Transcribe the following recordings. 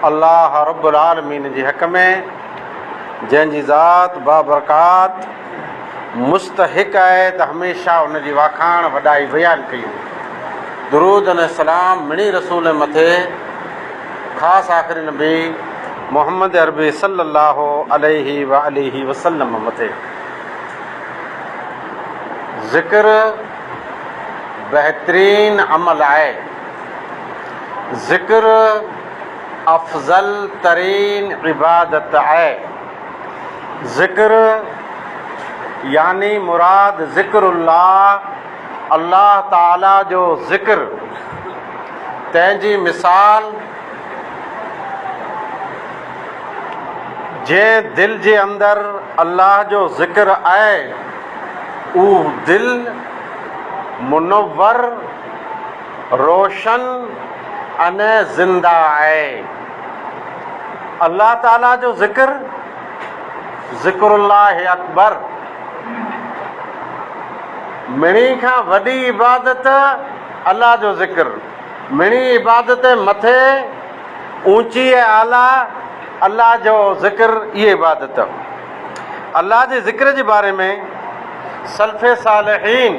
الله رب العالمين جي حق ۾، جنهن جي ذات بابرڪات، مستحق آهي ته هميشه ان جي واکاڻ، وڏائي بيان ڪيون. درود ۽ سلام مڙني رسول مٿي، خاص آخري نبي محمد عربي صلي الله عليه وآله وسلم مٿي. ذڪر بهترين عمل آهي. ذڪر افضل ترين عبادت آهي. ذڪر يعني مراد ذڪر الله الله تعاليٰ جو ذڪر تنهن جي مثال جنهن دل جي اندر الله جو ذڪر آهي اهو دل منور روشن ۽ زنده آهي. الله تعالي جو ذڪر، ذڪر الله اڪبر، مھڻي کان وڏي عبادت الله جو ذڪر، مھڻي عبادت مٿي اوچي ۽ اعليٰ الله جو ذڪر، اھي عبادت. الله جي ذڪر جي باري ۾ سلف صالحين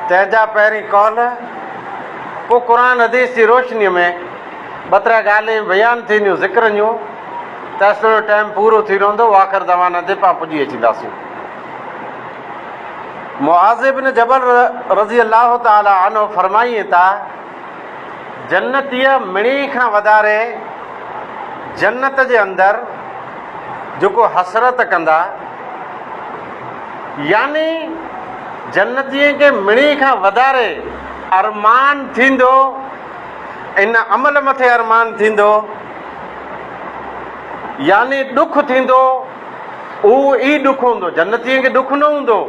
تنهن جا پهرين قول پوء قرآن حديث جي روشنيء ۾ ٻه ترا ڳالهين بيان ٿينديون ذڪر جون تيستوڻي ٽائيم پورو ٿي رهندو واخر دعوانا تي پا پڄي اچينداسين معاذ ابن جبل رضي الله تعالي عنه فرمائين تا جنتيء مڻي کان وڌاري جنت جي اندر جيڪو حسرت ڪندا، يعني جنتين کي مڻي کان وڌاري ارمان ٿيندو، ان عمل مٿي ارمان ٿيندو، يعني ڏک ٿيندو، اهو ئي ڏک هوندو، جنتين کي ڏک نه هوندو،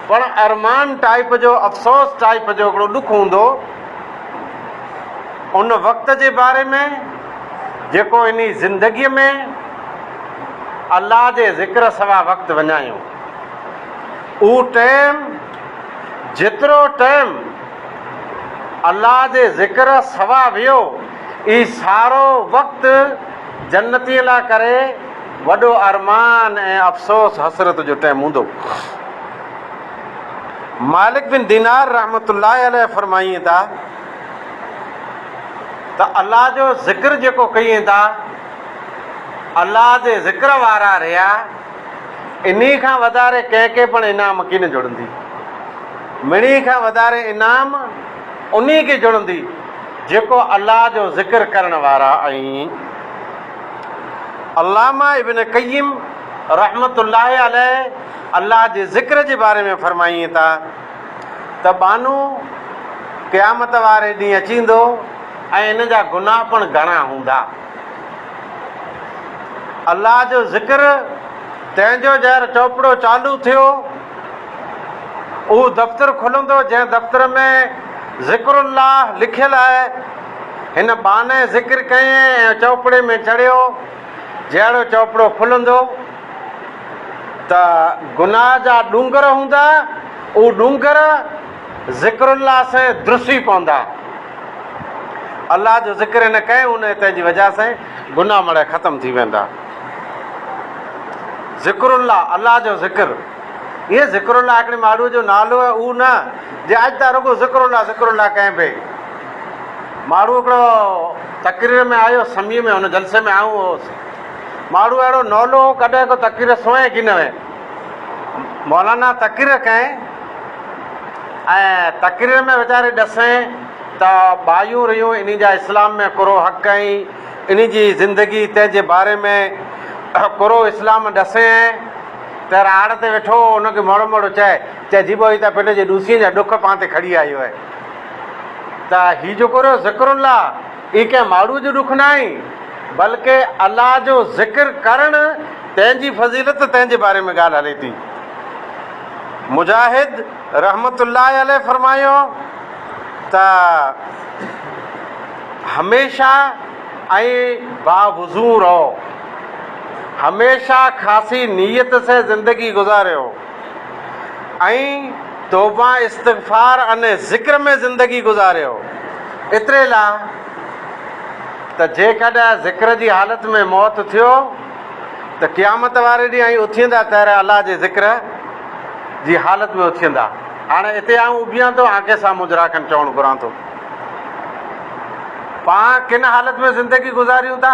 پڻ ارمان ٽائيپ جو، افسوس ٽائيپ جو هڪڙو ڏک هوندو. ان وقت جي باري ۾ جيڪو انهي زندگيء ۾ الله جي ذڪر سوا وقت وڃايو. اهو ٽيم جيترو ٽيم الله جي ذڪر سوا ويو اهي سارو وقت جنتين لاء ڪري وڏو ارمان ۽ افسوس حسرت جو ٽيم هوندو. مالڪ بن دينار رحمة الله عليه فرمائين ٿا ته الله جو ذڪر جيڪو ڪيين ٿا الله جي ذڪر وارا رهيا انهي کان وڌاري ڪنهن کي پڻ انعام ڪين جڙندي مڙي کان وڌاري انعام انهي کي جڙندي جيڪو الله جو ذڪر ڪرڻ وارا آهن علامه ابن قيم رحمة الله عليه الله جي ذڪر جي باري ۾ فرمائين ٿا ته ٻانهو قيامت واري ڏينهن اچيندو ۽ ان جا گناهه پڻ گهڻا هوندا. الله جو ذڪر تنهن جو جهر چوپڙو چالو ٿيو اهو دفتر کلندو جنهن دفتر ۾ ذڪر الله لکيل آهي. هن ٻانهي ذڪر ڪيئي ۽ چوپڙي ۾ چڙهيو جهڙو چوپڙو کلندو. ته گناهه جا ڏونگر هوندا، اهو ڏونگر ذڪر الله سين درسي پوندا. الله جو ذڪر هن ڪئي ان هتي جي وجه سين گناهه مڙئي ختم ٿي ويندا. ذڪر الله الله جو ذڪر اهي ذڪر الله هڪڙي ماڙو جو نالو هي اهو نه جي اڄ ته رڳو ذڪر الله ذڪر الله ڪئين پئي. ماڙو هڪڙو تقرير ۾ آيو سمي ۾ هن جلسي ۾ آئون هوس. ماڙهو اهڙو نولو هو ڪڏهن ڪو تقرير سونهين ڪين هئي. مولانا تقرير ڪئين ۽ تقرير ۾ ويچاري ڏسين ته ٻايون رهيون انهي جا اسلام ۾ ڪورو حق ۽ انهي جي زندگي تنهن جي باري ۾ ڪورو اسلام ڏسين ته راڙ تي ويٺو هو ان کي موڙو موڙو چئي چئي جيبو هي ته پنهنجي ڏوسين جا ڏک پان تي کڻي آيو آهي ته هي جيڪو رهيو ذڪر الله اهي ڪنهن ماڙهوء جو ڏک ناهي، بلڪه الله جو ذڪر ڪرڻ تنهن جي فضيلت تنهن جي باري ۾ ڳالهه هلي ٿي. مجاهد رحمة الله عليه فرمايو ته هميشه ۽ باوضو رهو، هميشه خاصي نيت سين زندگي گذاريو. ۽ توبه استغفار ان ذڪر ۾ زندگي گذاريو ايتري لاء ته جيڪڏهن ذڪر جي حالت ۾ موت ٿيو ته قيامت واري ڏينهن ائين اٿيندا طهر الله جي ذڪر جي حالت ۾ اٿيندا هاڻي اتي آئون اڀيان ٿو آنکي سان مجرا کن چوڻ گهران ٿو پاڻ ڪن حالت ۾ زندگي گذاريون ٿا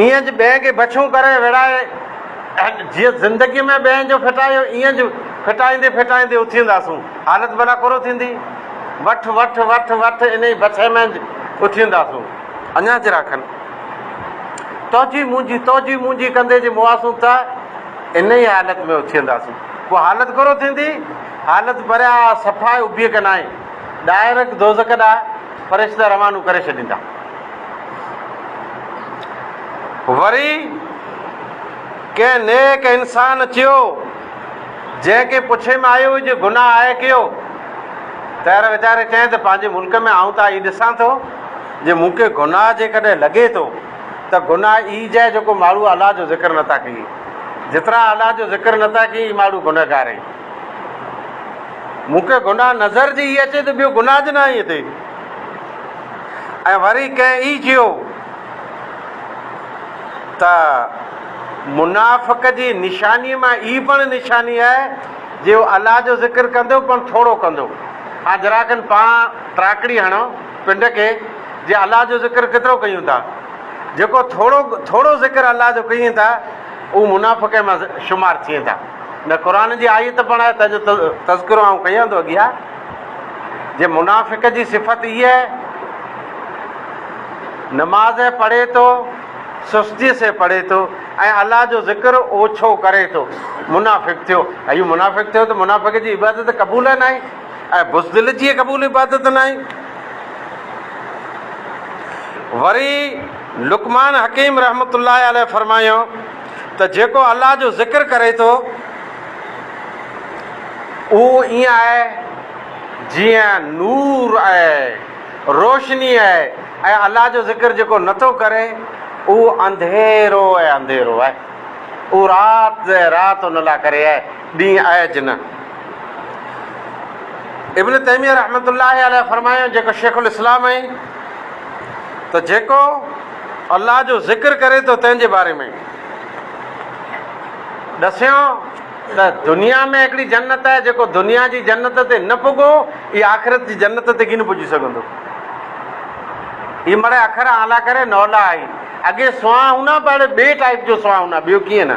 ايئن جو ٻين کي بڇون ڪري ويڙهائي جيئن زندگيء ۾ ٻين جو ڦٽايو ايئن جو ڦٽائيندي ڦٽائيندي اٿينداسون حالت ڀلا ڪورو ٿيندي وٺ وٺ وٺ وٺ انهي بڇي ۾ اٿينداسون اڃا چرا کن توجي منهنجي توجي منهنجي ڪندي جي موئاسون ته انهي حالت ۾ اٿينداسون پوء حالت ڪورو ٿيندي حالت پريا صفا ئي ابي ڪنائي ڏاهرڪ دوزخ ڏانهن فرشتا روانو ڪري ڇڏيندا. وري ڪنهن نيڪ انسان چيو، جنهن کي پڇي ۾ آيو هئي جو گناهه آهي ڪيو؟ ته هر ويچاري چيائين ته پنهنجي ملڪ ۾ آئون ته آء ئي ڏسان ٿو جي مون کي گناهه جيڪڏهن لڳي ٿو ته گناهه ايج آهي جيڪو ماڙهو الله جو ذڪر نٿا ڪيئي. جيترا الله جو ذڪر نٿا ڪيئي اي ماڙهو گنهگار اهي. مون کي گناهه نظر جي هي اچي ته ٻيو گناهه جي ناهي اٿئي. ۽ وري ڪنهن اي چيو ته منافق جي نشاني مان اي پڻ نشاني آهي جي هو الله جو ذڪر ڪندو پڻ ٿورو ڪندو. هان ذرا کن پاڻ ٽراڪڙي هڻو پنڊ کي جي الله جو ذڪر ڪيترو ڪيون ٿا. جيڪو ٿورو ٿورو ذڪر الله جو ڪيين ٿا. اهو منافقي مان شمار ٿئين ٿا. ان قرآن جي آيت پڻ آهي تنهن جو تذڪرو آئون ڪيان ٿو اڳيا جي منافق جي صفت هيء آهي نماز پڙهي ٿو سستي سين پڙهي ٿو ۽ الله جو ذڪر اوڇو ڪري ٿو منافق ٿيو اهو منافق ٿيو ته منافق جي عبادت قبول ناهي ۽ بزدل جي قبول عبادت ناهي. وري لقمان حڪيم رحمة الله عليه فرمايائون ته جيڪو الله جو ذڪر ڪري ٿو اهو ائين آهي جيئن نور آهي روشني آهي ۽ الله جو ذڪر جيڪو نٿو ڪري اهو انڌيرو ۽ انڌيرو آهي اهو رات ۽ رات ان لاء ڪري آهي ڏينهن آء جنھن. ابن تيميه رحمة الله عليه فرمايو جيڪو شيخ الاسلام ۽، ته جيڪو الله جو ذڪر ڪري ٿو تنھن جي باري ۾، ڏسيو ته دنيا ۾ ھڪڙي جنت آھي جيڪو دنيا جي جنت تي نه پڳو اھي آخرت جي جنت تي ڪين پڄي سگھندو اھي مڙئي اکر اعليٰ ڪري نولا آھي اڳي سونھاھونا ھونا ھاڻي ٻئي ٽائيپ جو سونھاھونا ٻيو ڪيئن نه.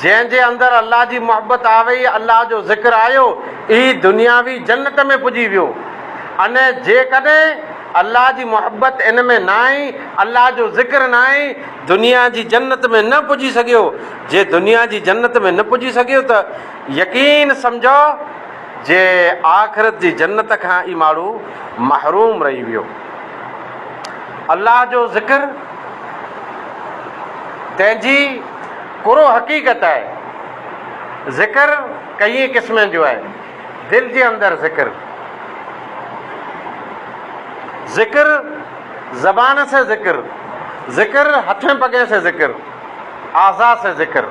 جنهن جي اندر الله جي محبت آوئي، الله جو ذڪر آيو، اهي دنياوي جنت ۾ پڄي ويو. ان جيڪڏهن الله جي محبت ان ۾ ناهي، الله جو ذڪر ناهي، دنيا جي جنت ۾ نه پڄي سگهيو، جي دنيا جي جنت ۾ نه پڄي سگهيو ته يقين سمجهو جي آخرت جي جنت کان اهي ماڻهو محروم رهي ويو. الله جو ذڪر. تنهن جي ڪرو حقيقت آهي. ذڪر ڪئين قسمن جو آهي. دل جي اندر ذڪر. ذڪر زبان سي ذڪر. ذڪر هٿين پڳين سي ذڪر. اعضاء سي ذڪر.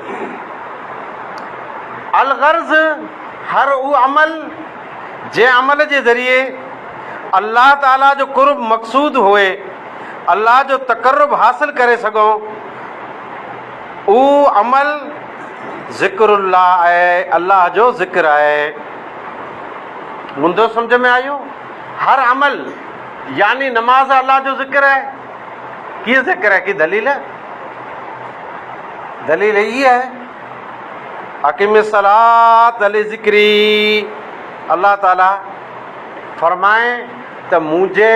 الغرض هر اهو عمل جنهن عمل جي ذريعي الله تعاليٰ جو قرب مقصود هئي. الله جو تقرب حاصل ڪري سگهون، اهو عمل ذڪر الله آهي، الله جو ذڪر آهي. مندو سمجهه ۾ آيو؟ هر عمل يعني نماز الله جو ذڪر آهي. ڪيئن ذڪر آهي ڪي دليل آهي؟ دليل هي آهي اقيم الصلات علي ذڪري الله تعالي فرمائي ته منهنجي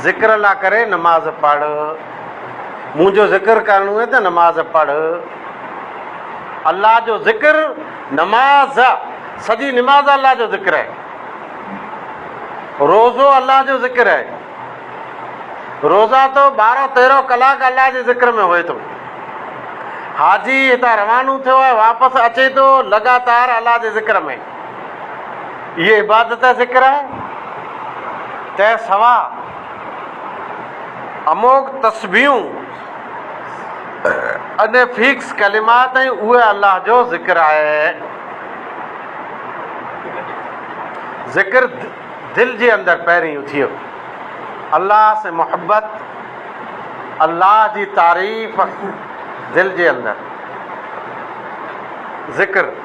ذڪر الله ڪري نماز پڙهه، منهنجو ذڪر ڪرڻو هي ته نماز پڙهه. الله جو ذڪر نماز ا سڄي نماز الله جو ذڪر آهي. روزو الله جو ذڪر آهي. روزا تو ٻارهن تيرهن ڪلاڪ الله جي ذڪر ۾ هوئي ٿو. حاجي هتان روانو ٿيو آهي واپس اچي ٿو لڳاتار الله جي ذڪر ۾ اهي عبادت ذڪر آهي، تنهن سواء اموڳ تسبيحون ان فيڪس ڪلمات ۽ اهي الله جو ذڪر آهي. ذڪر دل جي اندر پهرين اٿيو. الله سين محبت، الله جي تعريف دل جي اندر ذڪر.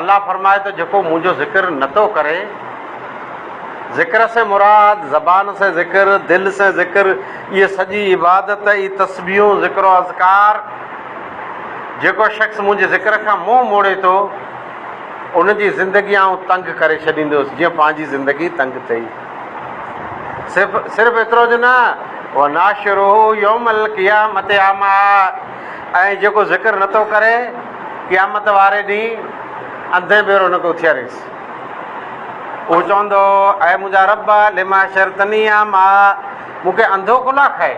الله فرمائي ٿو جيڪو منهنجو ذڪر نه ٿو ڪري، ذڪر سين مراد زبان سين ذڪر، دل سين ذڪر، اهي سڄي عبادت اي تسبيحون ذڪر و اذڪار، جيڪو شخص منهنجي ذڪر کان منهن موڙي ٿو ان جي زندگي آئون تنگ ڪري ڇڏيندس جيئن پنهنجي زندگي تنگ ٿئي. صرف صرف ايترو جو نه وناشره يوم القيامت اعميٰ ۽ جيڪو ذڪر نه ٿو ڪري قيامت واري ڏينهن انڌين ڀيرو هن کي اٿياريس. اهو چوندو، اي منهنجا رب! لم حشرتني اعميٰ، مون کي انڌو ڪو لاء کائي؟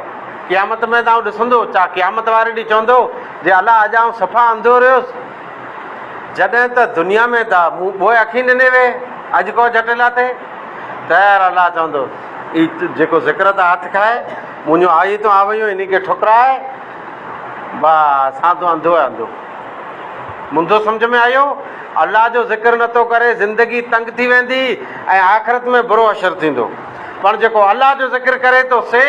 قيامت ۾ ته آئون ڏسندو. ڇا قيامت واري ڏينهن چوندو، جي الا اڄ آئون صفا انڌو رهيس، جڏهن ته دنيا ۾ ته مون ٻوهه اکين ڏني وي، اڄ ڪو جهٽ لاء ٿئي؟ تيار الا چوندو، اي جيڪو ذڪر تان هٿ کائي، منهنجون آيتون آويون انهي کي ٺڪرائي، واهه اسان تون انڌو آهي انڌو. منڌو سمجهه ۾ آيو؟ الله جو ذڪر نه ٿو ڪري زندگي تنگ ٿي ويندي ۽ آخرت ۾ برو حشر ٿيندو پڻ جيڪو الله جو ذڪر ڪري ٿو سي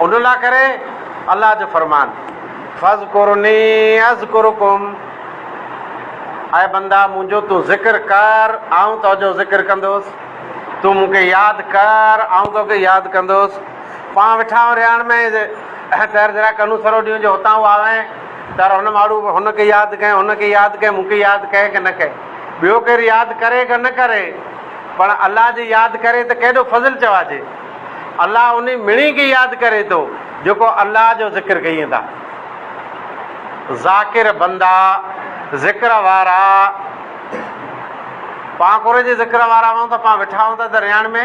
ان لا ڪري الله جو فرمان فذڪرني اذڪرکم اي بندا منهنجو تون ذڪر ڪر آئون تو جو ذڪر ڪندوس تون مونکي ياد ڪر آئون تو کي ياد ڪندوس پاڻ ويٺا آهيون رهاڻ ۾، ٽهر ذرا ڪنون سرو ڏيون جو هتان هو آوين. ٽهر هن ماڙهوء ۾ هن کي ياد ڪئين، هن کي ياد ڪئين، مون کي ياد ڪئين ڪه نه ڪئين. ٻيو ڪير ياد ڪري ڪه نه ڪري، پڻ الله جي ياد ڪري ته ڪيڏو فضل چوائجي. الله انهي مڻي کي ياد ڪري ٿو، جيڪو الله جو ذڪر ڪيئين ٿا. ذاڪر بندا، ذڪر وارا، پاڻ ڪوري جي ذڪر وارا آهيون ته پاڻ ويٺا آهيون ته رهاڻ ۾.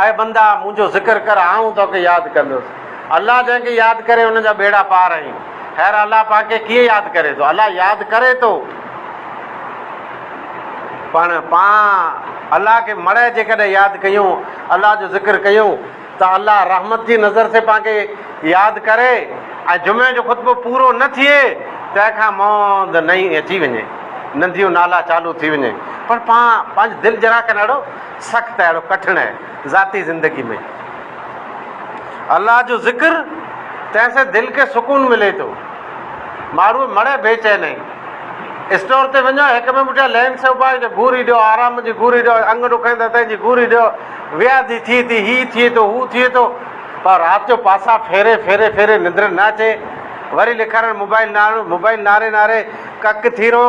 اي بندا! منهنجو ذڪر ڪر، آئون توکي ياد ڪندس. الله جنهن کي ياد ڪري، ان جا ٻيڙا پار آهن. خير، الله پاڪ کي ڪيئن ياد ڪري ٿو؟ الله ياد ڪري ٿو. پڻ پان الله کي مڙهي جيڪڏهن ياد ڪيون، الله جو ذڪر ڪيون، ته الله رحمت جي نظر سين پان کي ياد ڪري ۽ جمعي جو خطبو پورو نه ٿئي، تنهن کان مهند نئين اچي وڃي، ننديون نالا چالو ٿي وڃي، پڻ پان پنهنجي دل جرا ڪنڙو، سخت اهڙو ڪٺڻ آهي ذاتي زندگي ۾ الله جو ذڪر تنهن سين دل کي سڪون ملي ٿو ماڻهو مڙي بي چين آهي اسٽور تي وڃو هڪ ٻئي پٺيان لين سو پاء جو گوري ڏيو آرام جي گوري ڏيو انگ ڏکائين ٿا تنهنجي گوري ڏيو وياضي ٿئي ٿي هي ٿئي ٿو هو ٿئي ٿو پر رات جو پاسا ڦيري ڦيري ڦيري ننڊ نه اچي وري لکارڻ موبائل نارو موبائل ناري ناري ڪڪ ٿي رهو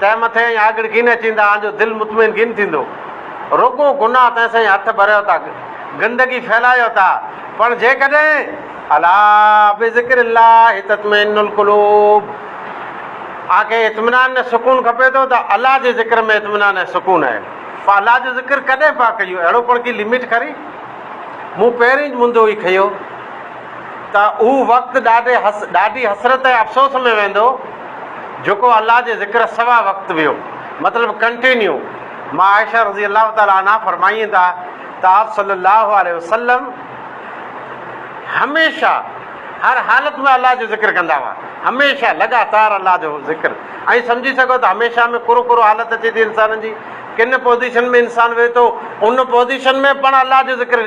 تنهن مٿي ائين آڳڙ ڪين اچيندا آن جو دل مطمئن ڪين ٿيندو. رڳو گناهه تنهن سائين هٿ ڀريو ٿا، گندگي ڦهلايو ٿا، پڻ جيڪڏهن، الا بذڪر الله تطمئن القلوب، آن کي اطمينان ۽ سڪون کپي ٿو ته الله جي ذڪر ۾ اطمينان ۽ سڪون آهي. پوء الله جو ذڪر ڪڏهن پيا ڪيون؟ اهڙو پڻ ڪي لمٽ کري؟ مون پهرين ئي منڌو هي کنيو. ته اهو وقت ڏاڍي ڏاڍي حسرت ۽ افسوس ۾ ويندو جيڪو الله جي ذڪر سوا وقت ويو مطلب ڪنٽينيو مان عائشه رضي الله تعالٰي عنها فرمائين ٿا ته آپ صلي الله عليه وسلم هميشه هر حالت ۾ الله جو ذڪر ڪندا هئا هميشه لڳاتار الله جو ذڪر ۽ سمجهي سگهو ته هميشه ۾ ڪرو ڪرو حالت اچي ٿي انسان جي ڪن پوزيشن ۾ انسان ويهي ٿو ان پوزيشن ۾ پڻ الله جو ذڪر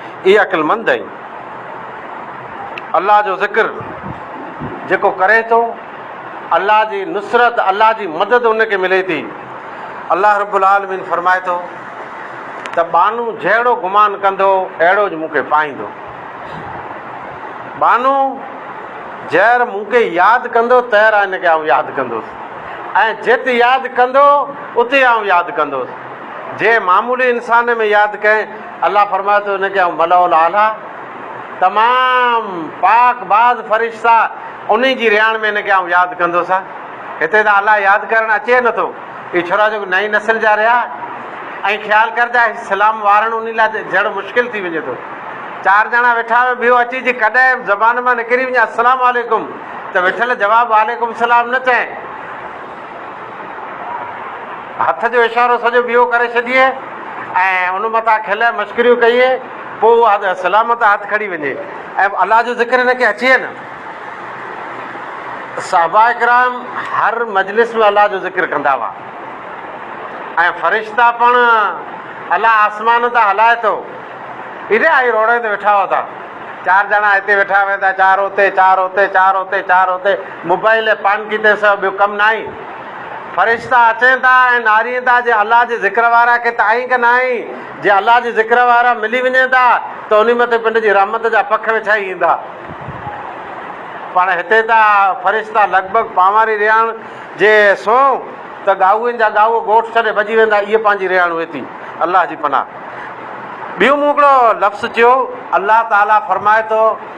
اي عقلمند ۽ الله جو ذڪر جيڪو ڪري ٿو الله جي نصرت الله جي مدد ان کي ملي ٿي الله رب العالمين فرمائي ٿو ته بانو جهڙو گمان ڪندو اهڙو جو مون کي پائيندو بانو جهر مون کي ياد ڪندو تهر ان کي آئون ياد ڪندوس ۽ جت ياد ڪندو اتي آئون ياد ڪندوس جي معمولي انسان ۾ ياد ڪئين الله فرمايو ته ان کي آئون ملأ الاعليٰ، تمام پاڪ باز فرشتا، انهي جي رهاڻ ۾ ان کي آئون ياد ڪندس. هتي ته الله ياد ڪرڻ اچي نه ٿو. اهي ڇورا جيڪو نئين نسل جا رهيا ۽ خيال ڪر ته اسلام وارڻ انهي لاء جھڙ مشڪل ٿي وڃي ٿو. چار ڄڻا ويٺا هئا ٻيو اچي جي ڪڏهن زبان مان نڪري وڃي السلام عليڪم ته وٺل جواب وعليڪم السلام نه چئين. هٿ جو اشارو سڄو ٻيئو ڪري ڇڏيئي ۽ ان مٿان کلئي مشڪريون ڪيئي پوء اها سلامت هٿ کڙي وڃي ۽ الله جو ذڪر هن کي اچي نه. صحابه ڪرام هر مجلس ۾ الله جو ذڪر ڪندا هئا ۽ فرشتا پڻ الله آسمان تان هلائي ٿو ايڏي آئي روڙين تي ويٺا هئا ٿا چار ڄڻا هتي ويٺا ويندا چار هتي چار هتي چار هتي چار هتي موبائل ۽ پان ڪيتي سوا ٻيو ڪم ناهي. فرشتا اچين ٿا ۽ نارين ٿا جي الله جي ذڪر وارا کي ته آئين ڪه ناهين. جي الله جي ذڪر وارا ملي وڃين ٿا ته انهي مٿي پنڊ جي رحمت جا پک وڇائي ايندا. پاڻ هتي ته فرشتا لڳ ڀڳ پانواري رهاڻ جي سونهن ته ڳائوين جا ڳائو ڳوٺ ڇڏي ڀڄي ويندا اهي پنهنجي رهاڻ هئي ٿي. الله جي پناهه. ٻيون مون هڪڙو لفظ چيو. الله تعالي فرمائي ٿو.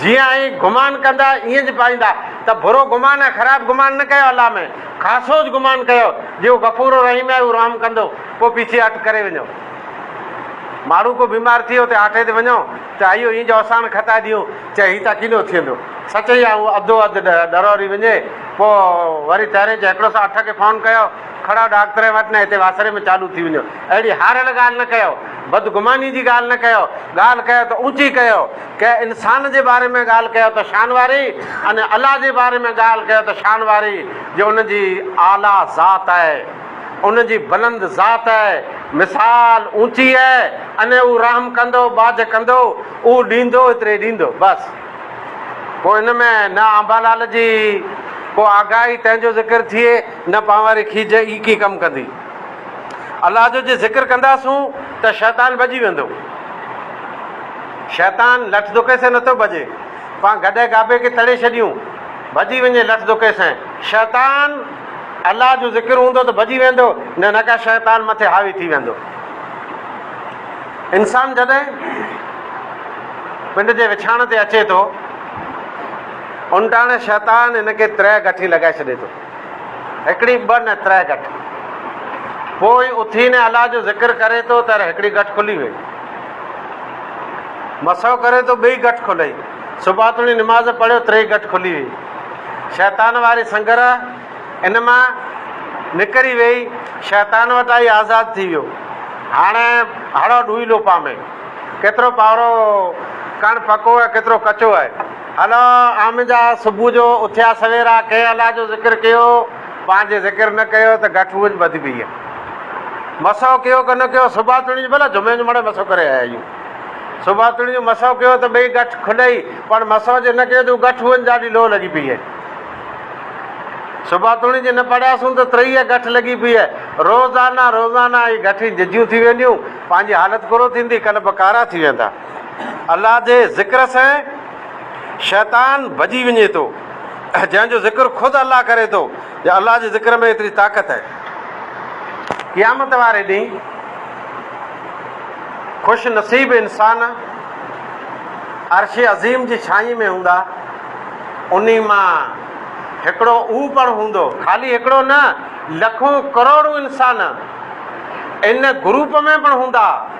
جيئن آهين گمان ڪندا ايئن جي پائيندا ته برو گمان ۽ خراب گمان نه ڪيو الله ۾ خاصوج گمان ڪيو جي هو غفور و رحيم آهي هو رحم ڪندو پوء پيڇي هٽ ڪري وڃو ماڻهو ڪو بيمار ٿئي اتي آٺي تي وڃو ته ايو اين جو اساڻ کتائي ڏيون چي هي تا ڪينو ٿيندو سچ اي آهي هو اڌو اڌ ڏروري وڃي پوء وري تهرين چي هڪڙو سا اٺ کي فون ڪيو کڙا ڏاڪ ترين وٽ نه هتي واسري ۾ چالو ٿي وڃو. اهڙي هاريل ڳالهه نه ڪيو. بدگماني جي ڳالهه نه ڪيو. ڳالهه ڪيو ته اوچي ڪيو. ڪنهن انسان جي باري ۾ ڳالهه ڪيو ته شان واري ۽ الله جي باري ۾ ڳالهه ڪيو ته شان واري جو ان جي اعليٰ ذات آهي. ان جي بلند ذات آهي. مثال اوچي آهي ۽ هو رحم ڪندو، ٻاجهه ڪندو، هو ڏيندو ايتري ڏيندو. بس. پوء ان ۾ نه آنبالال جي ڪو آگاهي تنهن جو ذڪر ٿئي. نه پانواري کيج ئي ڪي ڪم ڪندي. الله جو جي ذڪر ڪنداسون ته شيطان ڀڄي ويندو. شيطان لٺ دڪي سين نٿو ڀڄي. پان گڏهه گابي کي تڙي ڇڏيون. ڀڄي وڃي لٺ دڪي سين. شيطان الله جو ذڪر هوندو ته ڀڄي ويندو نه نڪا شيطان مٿي حاوي ٿي ويندو. انسان جڏهن پنڊ جي وڇاڻ تي اچي ٿو انٽاڻي شيطان هن کي ترهه گٺي لڳائي ڇڏي ٿو. هڪڙي ٻه نه ترهه ڳٺ. پوء اٿي نه الله جو ذڪر ڪري ٿو ته هڪڙي ڳٺ کلي وئي. مسحو ڪري ٿو ٻئي ڳٺ کلئي. صبحاتوڻي نماز پڙهيو ٽئي ڳٺ کلي وئي. شيطان واري سنگر ان مان نڪري وئي، شيطان وٽ آئي آزاد ٿي ويو. هاڻ هڙئو ڏوئي لو پامي. ڪيترو پاورو ڪڻ پڪو ۽ ڪيترو ڪچو آهي. هلا آمنجا صبح جو اٿيا سويرا ڪنهن الله جو ذڪر ڪيو پنهنجي ذڪر نه ڪيو ته گٺ اهو ٻڌي پئي هي مسحو ڪيو ڪه نه ڪيو صبح توڻي جو ڀلا جمعي جو مڙي مسحو ڪري آيا آهيون صبح توڻي جو مسحو ڪيو ته ٻئي گٺ کلئي پر مسحو جي نه ڪيو ته گٺ اهو ڏاڍي لو لڳي پئي هي صبح توڻي جي نه پڙهياسون ته ترئي گٺ لڳي پئي هي روزانه روزانه هي گٺ ججيون ٿي وينديون پنهنجي حالت ڪرو ٿيندي ڪلب ڪارا ٿي ويندا الله جي ذڪر سين شيطان ڀڄي وڃي ٿو جنهن جو ذڪر خود الله ڪري ٿو يا الله جي ذڪر ۾ ايتري طاقت آهي قيامت واري ڏينهن خوش نصيب انسان عرش عظيم جي ڇاني ۾ هوندا انهي مان هڪڙو او پڻ هوندو خالي هڪڙو نه لکون ڪروڙون انسان ان گروپ ۾ پڻ هوندا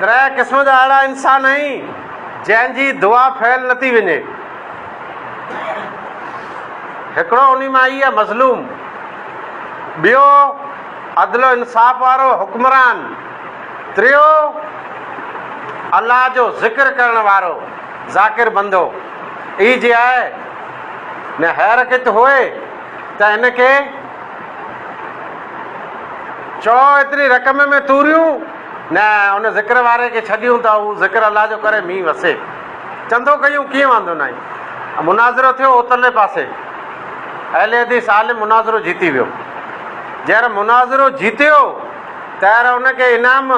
ترهه قسم جا اهڙا انسان آهن جنهن جي دعا فيل نه ٿي وڃي. هڪڙو انهي مان هي مظلوم. ٻيو عدل و انصاف وارو حڪمران. ٽيو الله جو ذڪر ڪرڻ وارو ذاڪر بندو. اي جي آء ۾ حيرڪت هئي ته ان کي چؤ ايتري رقم ۾ توريون نه ان ذڪر واري کي ڇڏيون ته هو ذڪر الله جو ڪري مينهن وسي. چندو ڪيون ڪيئن واندو ناهين. مناظرو ٿيو اوترلي پاسي اهل حديث عالم مناظرو جيتي ويو. جئر مناظرو جيتيو تئر ان کي انعام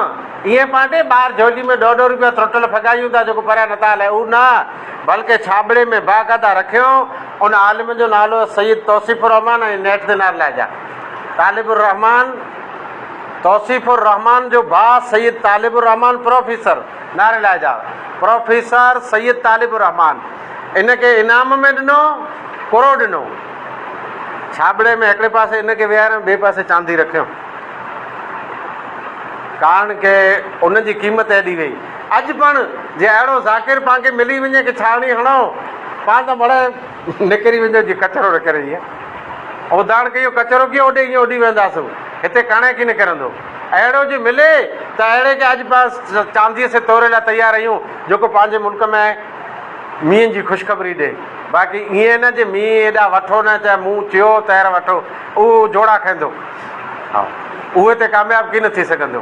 ائين پانٽي ٻاهر جهولي ۾ ڏهه ڏهه روپيا ترٽل ڦڳايون ٿا جيڪو پريان نٿا هلائي اهو نه بلڪه ڇاٻڙي ۾ باقاعده رکيائون، ان عالم جو نالو سيد توصيف الرحمان ۽ نيٺ دينار الله جا طالب الرحمان، توصيف الرحمان جو ڀاء سيد طالب الرحمان پروفيسر، نار الله جا پروفيسر سيد طالب الرحمان ان کي انعام ۾ ڏنو، ڪرو ڏنو، ڇاٻڙي ۾ هڪڙي پاسي ان کي ويهاريائون ٻئي پاسي چاندي رکيائون، ڪارڻ ڪه ان جي قيمت ايڏي هئي. اڄ پڻ جي اهڙو ذاڪر پان کي ملي وڃي کي ڇاڻي هڻئو پان ته مڙهي نڪري ويندو جي ڪچرو نه ڪري ائين اوڌاڻ ڪيو ڪچرو ڪيو اوڏي ائين اڏي وينداسون هتي ڪڻي کي نه ڪرندو اهڙو جي ملي ته اهڙي کي اڄ پان چانديء سي توري لاء تيار ايون جيڪو پنهنجي ملڪ ۾ مينهن جي خوشخبري ڏي باقي ائين نه جي مينهن ايڏا وٺو نه چاهي مون چيو تهر وٺو اهو جوڙا کائيندو اهي تي ڪامياب ڪين ٿي سگهندو.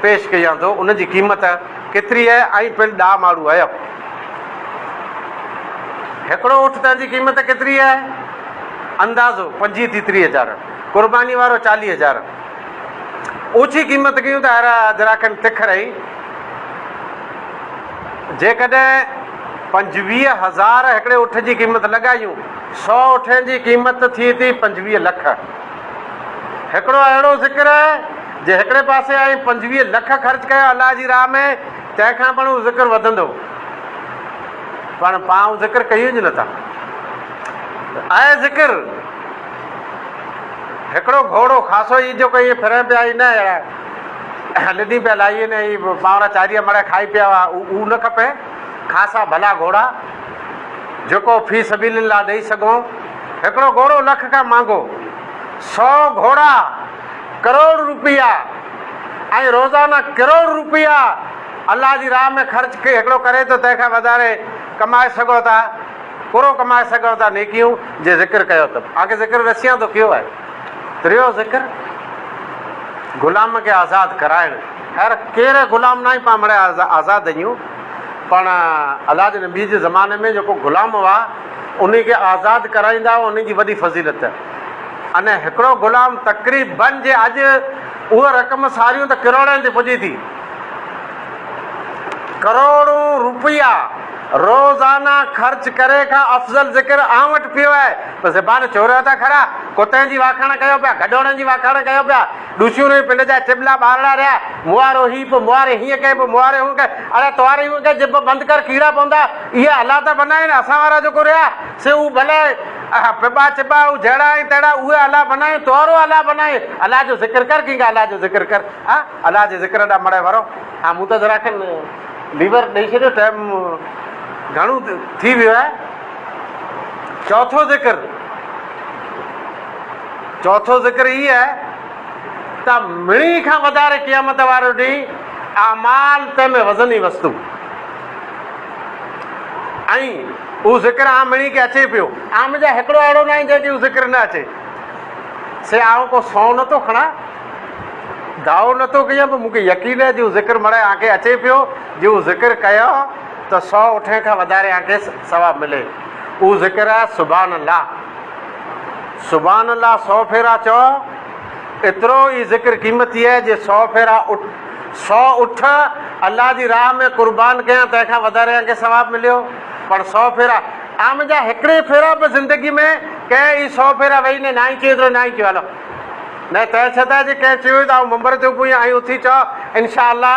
پيش ڪيان ٿو ان جي قيمت ڪيتري اهي ۽ پڻ ڏاهه ماڙو اهي. هڪڙو اونٺ تنهن جي قيمت ڪيتري اهي؟ اندازو، پنجيهه ٿي ٽيهه هزار، قرباني وارو چاليهه هزار. اوڇي قيمت ڪيون ته هر اجراکن تک رهي. جيڪڏهن پنجويهه هزار هڪڙي اونٺ جي قيمت لڳايون، سؤ اونٺن جي قيمت ٿئي ٿي پنجويهه لک. هڪڙو اهڙو ذڪر جي هڪڙي پاسي آئين پنجويهه لک خرچ ڪيا الله جي راهه ۾ تنهن کان پڻ اهو ذڪر وڌندو پڻ پان اهو ذڪر ڪيون ئي نٿا اهي ذڪر هڪڙو گهوڙو خاصو ئي جو ڪيئي ڦرڻ پيا ئي نه اهڙا لڏي پيا لائي نه پاورا چاريا مڙا کائي پيا هئا اهو نه کپي خاصا ڀلا گهوڙا جيڪو في سبيل الله ڏئي سگهون. هڪڙو گهوڙو لک کان مهانگو، سؤ گهوڙا ڪروڙ روپيا ۽ روزانه ڪروڙ روپيا الله جي راهه ۾ خرچ هڪڙو ڪري ته تنهن کان وڌاري ڪمائي سگهو ٿا، ڪورو ڪمائي سگهو ٿا نيڪيون جي ذڪر ڪيو ته آء کي ذڪر رسيان ٿو ڪيو آهي. ٽيون ذڪر غلام کي آزاد ڪرائڻ. خير ڪير غلام ناهي پاڻ مڙئي آزاد اهيون پاڻ الله جي نبي جي زماني ۾ جيڪو غلام هئا انهي کي آزاد ڪرائيندا هئا انهي جي وڏي فضيلت انهي هڪڙو غلام تقريبن جي اڄ اهي رقم ساريون ته ڪروڙين تي پڄي ٿي ڪروڙون روپيا روزانه خرچ ڪري کان افضل ذڪر آئون وٽ پيو آهي ته زبان چوريو ٿا کڙا ڪتي جي واکاڻ ڪيو پيا گڊوڙن جي واکاڻ ڪيو پيا ڏسيون رهيون پنڊ جا چٻلا ٻارڙا رهيا موارو هي پو مواري هيئن ڪئين پو مواري هونئن ڪئين اڙي تواري هونئن ڪئين جب بند ڪر ڪيڙا پوندا اهي الا ته بنا آهن اسان وارا جيڪو رهيا سي هو ڀلي اها پٻا چٻا هو جهڙا ۽ تهڙا اهي الا بنا آهن توارو الا بنا آهن الا جو ذڪر ڪر ڪينگا الا جو ذڪر ڪر ها الا جي ذڪر ڏانهن مڙي ورو ها مون ته ذرا کن ليور ڏئي ڇڏيو ٽائيم گهڻو ٿي ويو آهي چوٿون ذڪر چوٿون ذڪر هي آهي ته مڻي کان وڌاري قيامت وارو ڏينهن اعمال تنهن ۾ وزني وستو ۽ اهو ذڪر عام مڻي کي اچي پيو عام جا هڪڙو اهڙو ناهي جنهن کي اهو ذڪر نه اچي سي آئون ڪو سو نه ٿو کڻا دعو نه ٿو ڪيان پر مون کي يقين آهي جو ذڪر مڙائي آنکي اچي پيو جو ذڪر ڪيو ته سو اٺين کان وڌاري آنکي ثواب ملي اهو ذڪر آهي سبحان الله سبحان الله سؤ ڦيرا چؤ ايترو ئي ذڪر قيمتي آهي جي سؤ ڦيرا سؤ اٺ الله جي راهه ۾ قربان ڪيان تنهن کان وڌاري ان کي ثواب مليو پر سؤ ڦيرا آ منهنجا هڪڙي ڦيرا به زندگي ۾ ڪنهن ئي سؤ ڦيرا ويهي نه ناهي چيو ايترو ناهي چيو هلو نه تنهن ڇتان جي ڪنهن چيو ته آئون منبر تي اڀو هيان ائين اٿي چؤ انشاء الله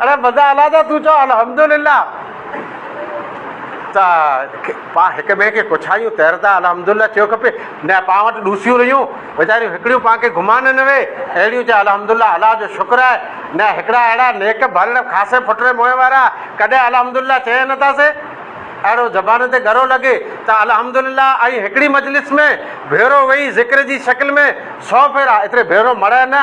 اڙي مزا الا جا تون چئو الحمدلله ته پا هڪ ٻئي کي ڪڇايون تيردا الحمدلله چيو کپي نه پا وٽ ڏوسيون رهيون ويچاريون هڪڙيون پا کي گهمان نه وي اهڙيون چئي الحمدلله الا جو شڪر آهي نه هڪڙا اهڙا نيڪ ڀل خاصي ڦٽري موهين وارا ڪڏهن الحمدلله چئي نه ٿا سي اهڙو زبان تي ڳرو لڳي ته الحمدلله ائين هڪڙي مجلس ۾ ڀيرو ويهي ذڪر جي شڪل ۾ سو ڀيرا ايتري ڀيرو مڙهه نه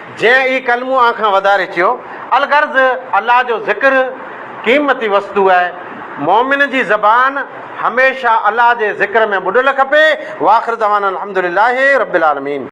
جنهن هي ڪلمو آن کان وڌاري چيو، الغرض الله جو ذڪر قيمتي وستو آهي، مؤمن جي زبان هميشه الله جي ذڪر ۾ ٻڏل کپي، واخر دعوانا الحمد لله رب العالمين.